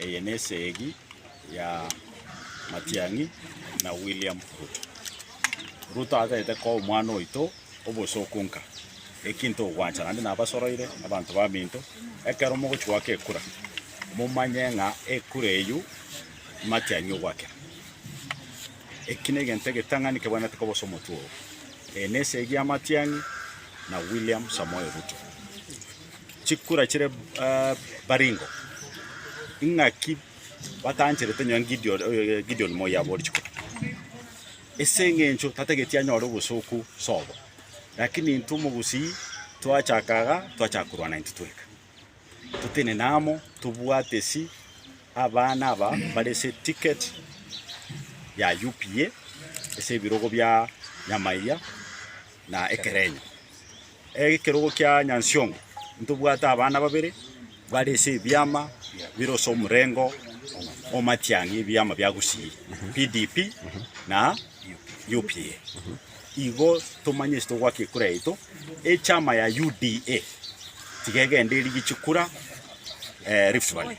Eye nesegi ya Matiang'i na William Ruto. Ruto atagete koa omwana oito obosooku nka eki ntogwancha naende nabasoroire abanto baminto ekero mogochi goaka ekura momanye ng'a ekura eyio Matiang'i ogwakera. Eki negento egetang'ani kebwenerete koba ase omotwe oo. Eye nesegi ya Matiang'i na William Samoei Ruto. chikura chire baringo, ing'aki batancherete nonya Gideon Gideon moi aboe chikura, ase eng'encho tatageti anyore obosooku sobo, rakini intwe omogusii twachaka iga twachaka korwana intwe tweka, totenene amo tobwate esii abana aba bare ase eticket ya UPA ase ebirogo bia Nyamaiga. na ekerenyo. Ekerogo kia Nyansiongo ntobwate abana babere bare ase ebiama bire ase omorengo o matiang'i ebiama bia Gusii, PDP na UPA. Igo tomanye ase togwaka ekura yaito echama ya UDA tiga egende erigie chikura eh, Rift Valley.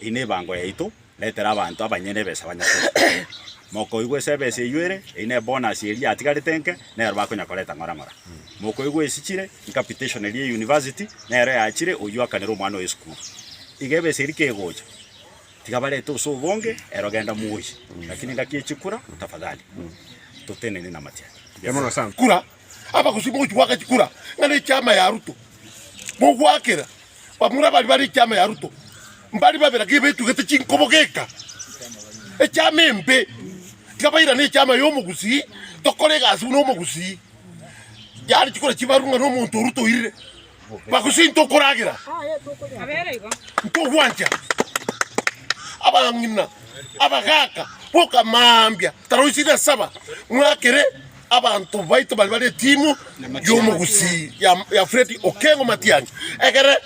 Eye nebango yaito, retera abanto abanyene ebesa banyakore oborendi. Mokoigwa ase ebesa eyio ere, eye nebonus eria yatigarete nke, nero bakonya koreta ng'ora ng'ora. Mokoigwa esichire, incapitation eria ya university, nero yachire oyio akanera omwana oye esukuru. Iga ebesa eria kegocha, tiga barete use obonge, ero genda moyi, lakini engaki echikura, tafadhali, totenenie namatian. Kura abagosii mogochia goaka chikura, ng'a nechiama ya Ruto mogoakera bamura abari bare echiama ya Ruto, mbari babe lakini baetugete chinkobo geka echiama embe, tiga bairane echiama ya omogusii, tokore egasi buna omogusii, yare chikura chibaru ng'a nomonto o Ruto oirire. Bagosinta okoragera ntogwancha abang'ina abagaka boka mambia taro isiri na saba mwakere abanto baito bari bari timu yomogusi ya, ya Fred Okengo Matiang'i egere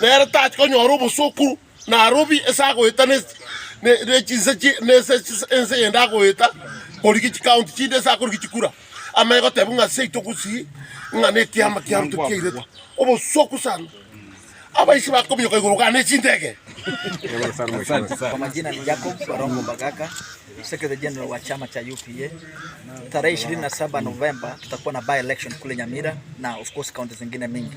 nere tachi konyora obosukuru Narobie ense agoeta ne chinse chie ense, ense eyende agoeta korigia chikaunti chinde ense akorigia chikura, amanye goteba ng'a seito gusii ng'a nekiama kia ruto kiairetwe. Obosuku sana. Abaichi bakominyoka igoro gana ne chindege. Kwa majina ni Jacob Barongo Mbagaka, Secretary General wa chama cha UPA. Tarehe 27 Novemba tutakuwa na by election kule Nyamira na of course county zingine mingi.